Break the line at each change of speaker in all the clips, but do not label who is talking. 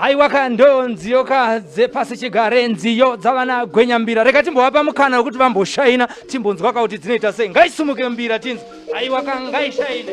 aiwa ka ndo nziyo ka dzepasi chigare nziyo dzavana gwenya mbira rega timbovapa mukana wekuti vamboshaina timbonzwa ka kuti dzinoita sei ngaisumuke mbira tinzi aiwa ka ngaishaine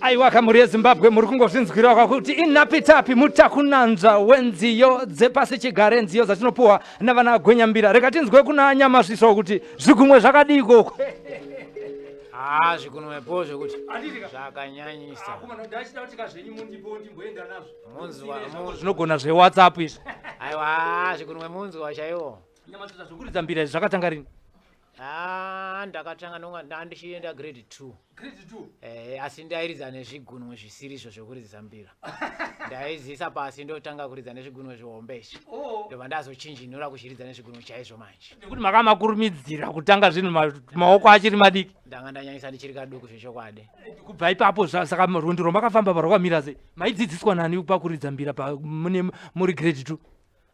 aiwa kamuri yezimbabwe muri kungozvinzwirawo kwakuti inapitapi mutakunanzva wenziyo dzepasi chigare nziyo dzatinopuwa navana gwenyambira rega tinzwe kuna nyamasviso kuti zvigunwe zvakadii koko haa
zvikunwepo zvekuti zvakanyanyisa munzwa
munzwa- zvinogona zvewhatsapp izvi aiwa haa
zvikunwe munzwa chaiwo Nyamatudza zvekuridza
mbira izvi zvakatanga rini? Ah, ndakatanga
nonga ndandichienda grade 2. Grade 2. Eh,
asi ndairidza
nezvigunwe zvisiri izvo zvekuridza mbira. Ndaizisa pasi ndotanga kuridza nezvigunwe zvihombe izvi. Oh. Ndobva ndazochinjinura kuchiridza nezvigunwe chaizvo manje. Nekuti makamakurumidzira
kutanga zvinhu maoko achiri madiki. Ndanga ndanyanyisa ndichiri
kaduku zvechokwadi. Eh, kubva ipapo
saka rwendo rwamakafamba parwakamira sei? Maidzidziswa nani pakuridza mbira mune muri grade 2?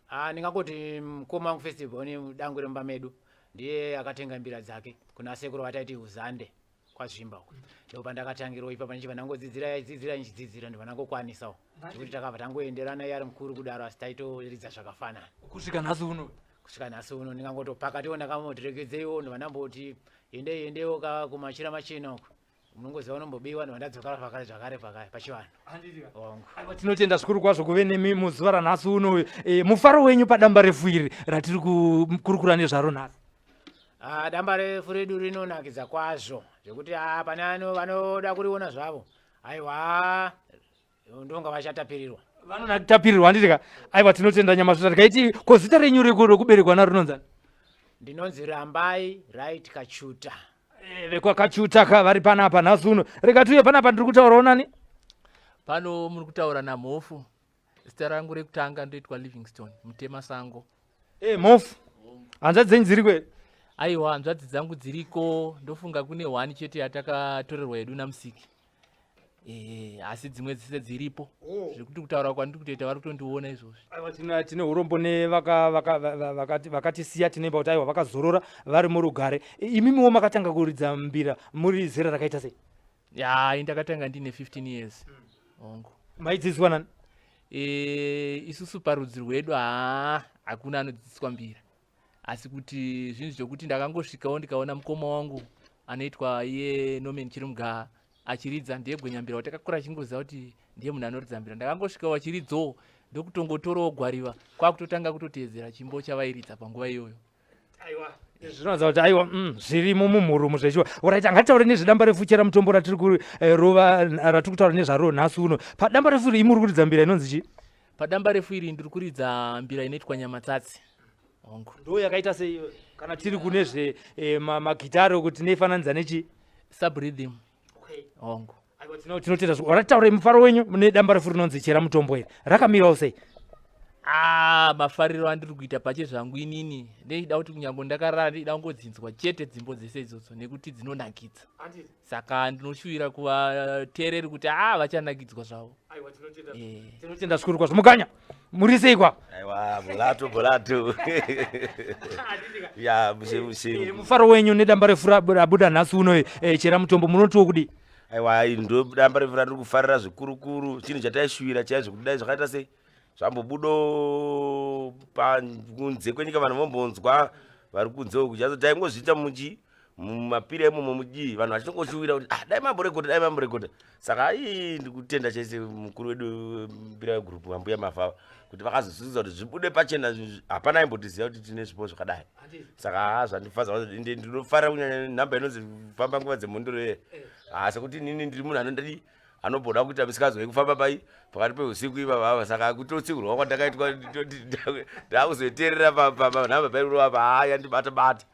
Ah, ndingangoti mkoma
wangu first born dangwe remumba medu ndiye akatenga mbira dzake kuna sekuru vataiti uzande kwazvimba uko ndipo pandakatangirwa ipapa ndichibva ndangodzidzira yaidzidzira ndichidzidzira ndibva ndangokwanisawo zvekuti takabva tangoenderana iye ari mukuru kudaro asi taitoridza zvakafanana kusvika nhasi uno
kusvika nhasi uno
ndingangotopakatiwo ndakamotirekedzeiwo ndibva ndamboti endei endeiwo ka kumachira machena uko munongoziva unombobiwa ndiva ndadzokera pakare zvakare pakare pachivanhu ongo
tinotenda zvikuru kwazvo kuve nemi muzuva ranhasi uno e, mufaro wenyu padamba refu iri ratiri kukurukura nezvaro nhasi ah, damba
refu redu rinonakidza kwazvo zvekuti ah, pane vanoda kuriona zvavo aiwa ndonga vachatapirirwa vanona tapirirwa
handiti ka aiwa tinotenda nyama zvota tikaiti ko zita renyu rekuberekwa naro rinonzani ndinonzi
rambai right kachuta eh, vekwakachuta
ka vari panapa nhasi uno rega tiuye panapa ndiri kutaurawo nani pano
muri kutaura namhofu zita rangu rekutanga ndoitwa livingstone mutema sango e eh, mhofu
hanzvadzi dzenyu dziri kweri aiwa hanzvadzi
dzangu dziriko ndofunga kune hwani chete yatakatorerwa yedu namusiki Eh, asi dzimwe dzese dziripo oh. zvekuti kutaura kwandiri kutoita vari kutondiona izvozvi tine urombo
nevakatisiya tinemba kuti aiwa vakazorora vari murugare imimiwo makatanga kuridza mbira muri zera rakaita sei ya ndakatanga
ndine 15 years hongu
maidzidziswa nani eh,
isusu parudzi rwedu haa hakuna anodzidziswa mbira asi kuti zvinhu zvekuti ndakangosvikawo ndikaona mukoma wangu anoitwa iye nomen chirimga achiridza ndiye gwenyambira watakakura achingoziva kuti ndiye munhu anoridza mbira ndakangosvikawo achiridzawo ndokutongotorawo gwariva kwakutotanga kutoteedzera chimbo chavairidza panguva iyoyo aiwa
zvinoratidza kuti aiwa mm, zvirimo mumhurumu zvechiwa orit angataure nezvedamba refu chera mutombo ratiri kurova eh, ratiri kutaura nezvaro nhasi uno padamba refu rimuri kuridza mbira inonzi chii padambarefu iri
ndiri kuridza mbira inoitwa nyamatsatsi hongu ndo yakaita sei
kana tiri kune zve eh, ma- magitare uku tinefananidza nechi subrhythm
hongu Aiwa, tino- tinotenda
zvo- ratitaurei mufaro wenyu mune damba refu rinonzi chera mutombo iri rakamirawo sei Ah, mafariro
andiri kuita pache zvangu inini ndechida kuti kunyange ndakarara ndechida kungodzinzwa chete dzimbo dzese idzodzo nekuti dzinonakidza Handiti? saka ndinoshuvira kuvateereri kuti haa vachanakidzwa zvavo
tinotenda zvikuru kwazvo mukanya muri sei kwa aiwa bulatu
bulatu ya mushe mushe Eh, mufaro wenyu nedamba
refu rab- rabuda nhasi uno eh, chera mutombo munotiwo kudii aiwa
ndodamba refu randiri kufarira zvikurukuru chinhu chataishuvira chaizvo kudai zvakaita sei zvambobudo pakunze kwenyika vanhu vombonzwa vari kunze uku chazo taingozviita muchi mumapiri emomo mudii vanhu vachinongoshuwira kuti ah, dai mamborekota dai mamborekota saka ii ndikutenda chaise mukuru wedu mbira yegroup vambuya mavhava kuti vakazozivisa kuti zvibude pachena hapana imbotiziva kuti tine zvipo zvakadai saka ha zvandifaza ndinofarira kunyanya nhamba inonzi famba nguva dzemhondoro ye eh. asi kuti inini ndiri munhu anondadii anogona kuita misikazo yekufamba pai pakati peusiku ivava ava saka akutotsiurwa kwandakaitwa ndakuzoterera panhamba pairova paaya ndibata bata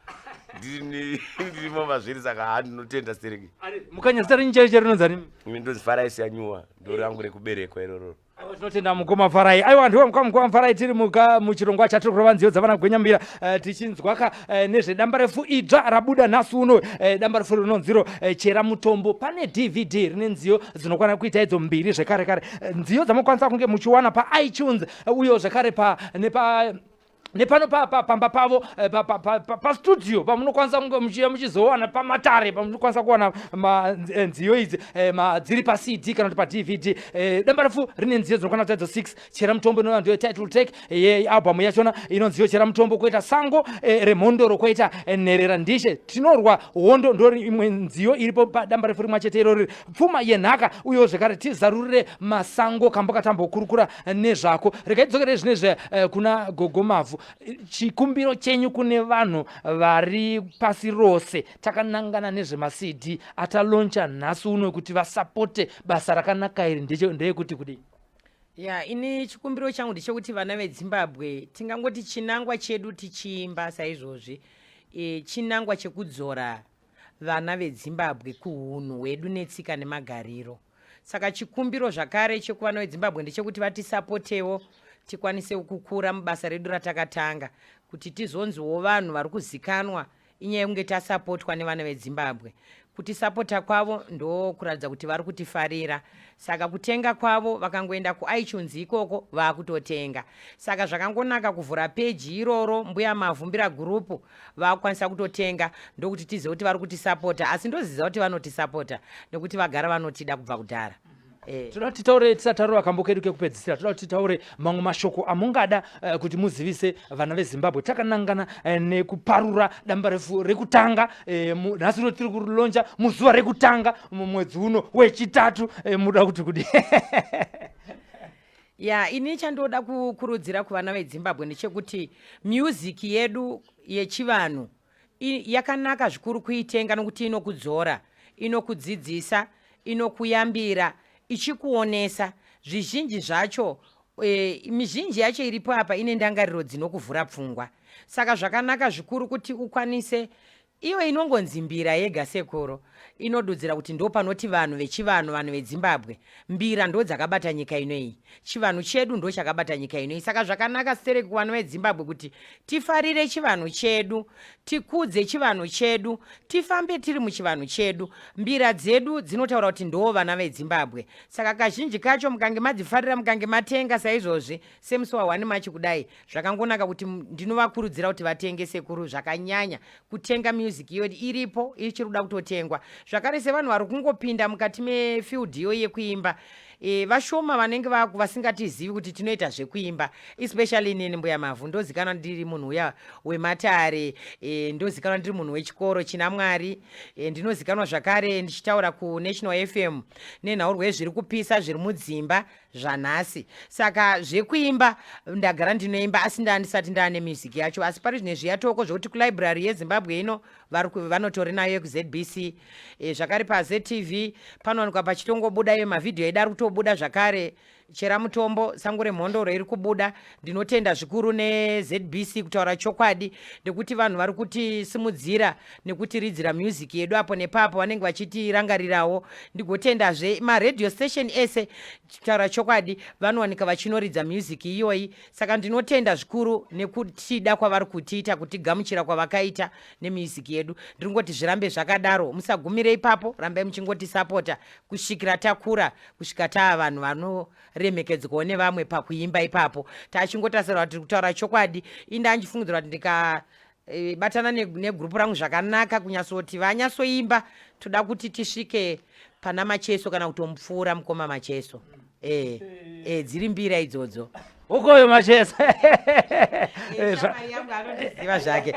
ndirimo mazviri saka ha ndinotenda stereki mukanya zita renyu
chaicho rinonzi ani ndonzi faraisi yanyuwa
ndorangu rekuberekwa irororo Aiwa tinotenda mukoma
Farai. Aiwa ndiwe mukoma mukoma Farai tiri muka muchirongwa chatiri kurova nziyo dzavana gwenyambira eh, tichinzwa ka eh, nezvedamba refu idzva rabuda nhasi uno eh, damba refu rinonziro eh, chera mutombo pane DVD rine nziyo dzinokwana kuita idzo mbiri zvekare kare Eh, nziyo dzamokwanisa kunge muchiwana pa iTunes eh, uyo zvekare pa nepa nepano pamba pavo eh, pastudio pamunokwanisa kunge muchiya muchizowana pamatare pamunokwanisa kuwana eh, nziyo idzi eh, dziri pacd kana kuti padvd dambarefu rine nziyo dzinokwana taidzo 6 chera mutombo inova ndiyo title take yealbum yachona inonziyo chera mutombo koita sango remhondoro koita nherera ndishe tinorwa hondo ndo imwe nziyo iripo padambarefu rimwe chete irori pfuma yenhaka uyewo zvekare tizarurire masango kambo katambokurukura nezvako regai tidzokere zvinezvi eh, kuna gogo mavhu chikumbiro chenyu kune vanhu vari pasi rose takanangana nezvemacd ataloncha nhasi uno kuti vasapote basa rakanaka iri ndeyekuti kudii ya ini
chikumbiro changu ndechekuti vana vedzimbabwe tingangoti chinangwa chedu tichiimba saizvozvi e, chinangwa chekudzora vana vedzimbabwe kuhunhu hwedu netsika nemagariro saka chikumbiro zvakare chekuvana vedzimbabwe ndechekuti vatisapotewo tikwanise kukura mubasa redu ratakatanga kuti tizonziwo vanhu vari kuzikanwa inyaya yekunge tasapotwa nevana vedzimbabwe kutisapota kwavo ndokuratidza kuti vari kutifarira saka kutenga kwavo vakangoenda kuitunes ikoko vaakutotenga saka zvakangonaka kuvhura peji iroro mbuya mavhumbira gurupu vakukwanisa kutotenga ndokuti tizive kuti vari kutisapota asi ndoziza kuti vanotisapota nekuti vagara vanotida kubva kudhara eh. toda kuti
taure tisataura kambo kedu kekupedzisira toda kuti taure mamwe mashoko amungada uh, kuti muzivise vana vezimbabwe takanangana uh, nekuparura damba refu rekutanga eh, nhasi uh, uno tiri kurilonja muzuva rekutanga mumwedzi uno wechitatu uh, muda kuti kudi
ya ini chandoda kukurudzira kuvana vedzimbabwe ndechekuti music yedu yechivanhu yakanaka zvikuru kuitenga nokuti inokudzora inokudzidzisa inokuyambira ichikuonesa zvizhinji zvacho e, mizhinji yacho iripo apa ine ndangariro dzinokuvhura pfungwa saka zvakanaka zvikuru kuti ukwanise Iyo inongonzi mbira yega sekuru inodudzira kuti ndo panoti vanhu vechivanhu vanhu vedzimbabwe mbira ndo dzakabata nyika ino iyi chivanhu chedu ndo chakabata nyika ino iyi saka zvakanaka stereki kuvanhu vedzimbabwe kuti tifarire chivanhu chedu tikudze chivanhu chedu tifambe tiri muchivanhu chedu mbira dzedu dzinotaura kuti ndoo vana vedzimbabwe saka kazhinji kacho mukange madzifarira mukange matenga saizvozvi semusi wahwani machi kudai zvakangonaka kuti ndinovakurudzira kuti vatenge sekuru zvakanyanya kutenga music iyo iripo ichiri kuda kutotengwa zvakare sevanhu vari kungopinda mukati mefield iyo yekuimba e, vashoma vanenge vasingatizivi kuti tinoita zvekuimba especially nini mbuya mavhu ndozikanwa ndiri munhu uya wematare e, ndozikanwa ndiri munhu wechikoro china mwari e, ndinozikanwa zvakare ndichitaura kunational fm nenhaurwa yezviri kupisa zviri mudzimba zvanhasi saka zvekuimba ndagara ndinoimba asi ndandisati ndaane music yacho asi pari zvine zviyatoko zvekuti kulibrary yezimbabwe ino vanotori nayo yekuzbc e, eh, zvakare pazetv panowanikwa pachitongobuda iyo mavhidhiyo aida ari kutobuda zvakare chera mutombo sango remhondoro iri kubuda ndinotenda zvikuru nezbc kutaura chokwadi nekuti vanhu vari kutisimudzira nekutiridzira music yedu apo nepapo vanenge vachitirangarirawo ndigotendazve maradio station ese kutaura chokwadi vanowanika vachinoridza music iyoyi saka ndinotenda zvikuru nekutida kwavari kutiita kutigamuchira kwavakaita nemusic yedu ndiri kungoti zvirambe zvakadaro musagumire ipapo rambai muchingotisapota kusvikira takura kusvika taa vanhu vano remhekedzwawo nevamwe pakuimba ipapo tachingotasirwa kuti tiri kutaura chokwadi inde andifungidzira kuti ndika Eh, batana negrupu rangu zvakanaka kunyasoti vanyasoimba toda kuti tisvike pana macheso kana kutomupfuura mukoma macheso e, e, dziri mbira idzodzo ukoyo macheso anondiziva zvake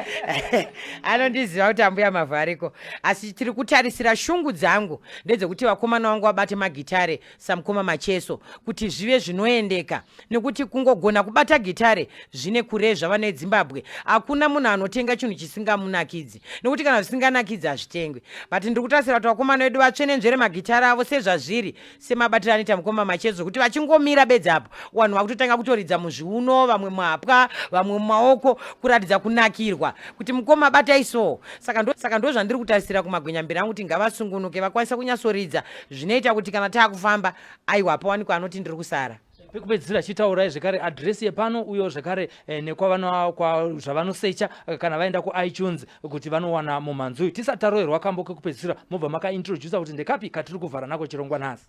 anondiziva kuti ambuya mavhu ariko asi tiri kutarisira shungu dzangu ndedzekuti vakomana vangu vabate magitare samukoma macheso kuti zvive zvinoendeka nekuti kungogona kubata gitare zvine kure zvava nedzimbabwe hakuna munhu anotenga chinhu chisingamunakidzi nekuti kana zvisinganakidzi hazvitengwe but ndiri kutasira kuti vakomana vedu vatsvenenzvere magitare avo sezvazviri semabatiro anoita mukoma macheso kuti vachingomira bedzi apo vanhu vakutotanga kutoridza muzviuno vamwe muhapwa vamwe mumaoko kuratidza kunakirwa kuti mukoma batai soo saka ndozvandiri kutarisira kumagwenyambira angu kuti ngavasungunuke vakwanisa kunyatsoridza zvinoita kuti kana taakufamba aiwa pawanikwa anoti ndiri kusara pekupedzisira chitaurai
zvekare adhiresi yepano uyo zvekare eh, nekwazvavanosecha eh, kana vaenda kuitunes kuti vanowana mumhanzi uyu tisati taroerwa kambo kekupedzisira mobva makaintroducer kuti ndekapi katiri kuvhara nako chirongwa nhasi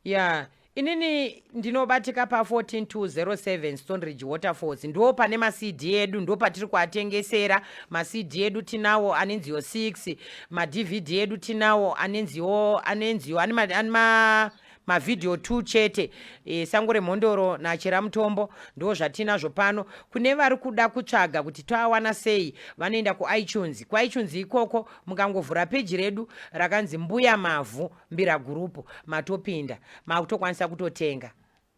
ya yeah. inini
ndinobatika pa 14207 stonridge waterfalls ndo pane macd edu ndo patiri kuatengesera macd edu tinawo anenziyo 6 madvd edu tinawo anenziyo anenziyo ane ma mavhidhiyo two chete e, sango remhondoro nachera mutombo ndo zvatinazvo pano kune vari kuda kutsvaga kuti toawana sei vanoenda kuitunes kuitunes ikoko mukangovhura peji redu rakanzi mbuya mavhu mbiragurupu matopinda makutokwanisa kutotenga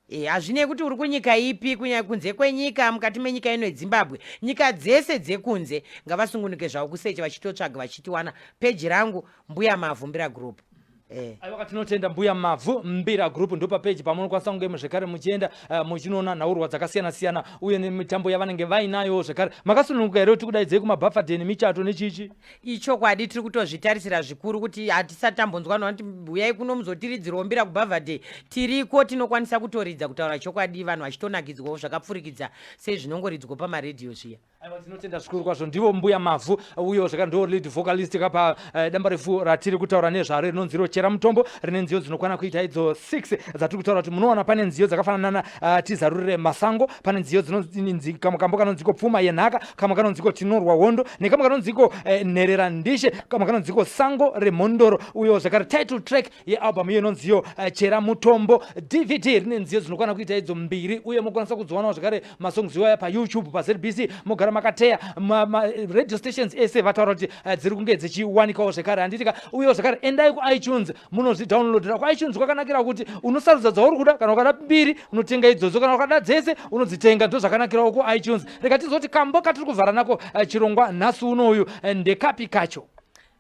e, hazvinei kuti uri kunyika ipi kunyaya kunze kwenyika mukati menyika ino yedzimbabwe nyika dzese dzekunze ngavasungunuke zvavo kusecha vachitotsvaga vachitiwana peji rangu mbuya mavhu mbiragurupu Eh. aiwaka
tinotenda mbuya mavhu mbira group ndopa peji pamunokwanisa kunge muzvekare muchienda uh, muchinoona nhaurwa dzakasiyana siyana uye nemitambo yavanenge vainayo zvekare makasununguka here kuti kudaidzei kumabafadeni michato nechichi ichokwadi tiri
kutozvitarisira zvikuru kuti hatisati tambonzwa noti huyai kuno muzotiridzirwo mbira kubhavhadhe tiriko tinokwanisa kutoridza kutaura chokwadi vanhu vachitonakidzwawo zvakapfurikidza sezvinongoridzwa pamaredhiyo zviya aiwa tinotenda zvikuru
kwazvo ndivo mbuya mavhu uyo zvaka ndo lead vocalist kapa uh, eh, damba refu ratiri kutaura nezvaro rinonzi rochera mutombo rine nziyo dzinokwana kuita idzo 6 dzatiri kutaura kuti munoona pane nziyo dzakafanana Uh, tizarurire masango pane nziyo dzinonzi kamwe kambo kanonziko pfuma yenhaka kamwe kanonziko tinorwa hondo nekamwe kanonziko eh, nherera ndishe kamwe kanonziko sango remhondoro uyo zvakare title track yealbum iyo inonziyo eh, chera mutombo dvd rine nziyo dzinokwana kuita idzo mbiri uye mokwanisa kudzowanawo zvakare masongs iwaya payoutube pazbc mogara makateya maradio stations ese vataura kuti eh, dziri kunge dzichiwanikawo zvekare handitika uyewo zvekare endai kuitunes munozvidownloadera kwaichunzi kwakanakira kuti unosarudza dzauri kuda kana ukada mbiri unotenga idzodzo kana ukada dzese unodzitenga ndo zvakanakirawo kuitunes rega tizoti kambo katiri kuvhara nako eh, chirongwa nhasi uno uyu eh, ndekapi kacho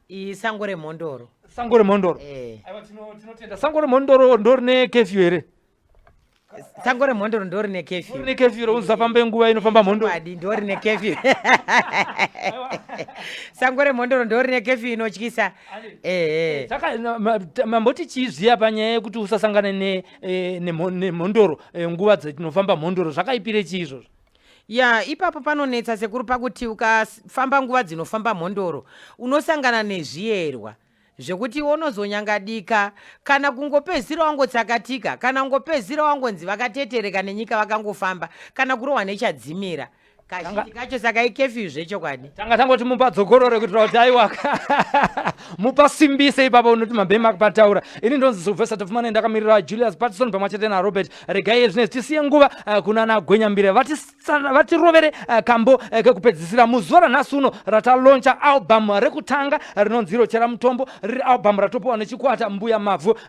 isango
remhondoro sango remhondoro eh.
aiwa tinotenda sango remhondoro ndorine kefyu here
sango remhondoro ndori nekefyu ne kefyu rounza famba
nguva inofamba mhondoro adi ndori nekefyu
sango remhondoro ndori nekefyu inotyisa ehe eh.
saka mamboti chii zviya panyaya yekuti usasangane nemhondoro ne, ne, eh, ne eh, nguva dzatinofamba mhondoro zvakaipire chii izvozvo ya ipapo
panonetsa sekuru pakuti ukafamba nguva dzinofamba mhondoro unosangana nezviyerwa zvekuti iwe unozonyangadika kana kungopedzisira wangotsakatika kana kungopedzisira wangonzi vakatetereka nenyika vakangofamba kana kurohwa nechadzimira kazhinji kacho saka ikefyu zvechokwadi tanga tangoti mupa
dzokorore kuitira kuti aiwaka mupa simbise ipapa unoti mabhema pataura ini ndonzi silvester tofumane ndakamirira julius patison pamwe chete narobert regai ezvinezi tisiye nguva eh, kuna nagwenyambire vatis Saka vatirovere uh, kambo uh, kekupedzisira muzuva ranhasi uno rataloncha album rekutanga rinonzi rochera mutombo riri album ratopiwa nechikwata mbuya mavhu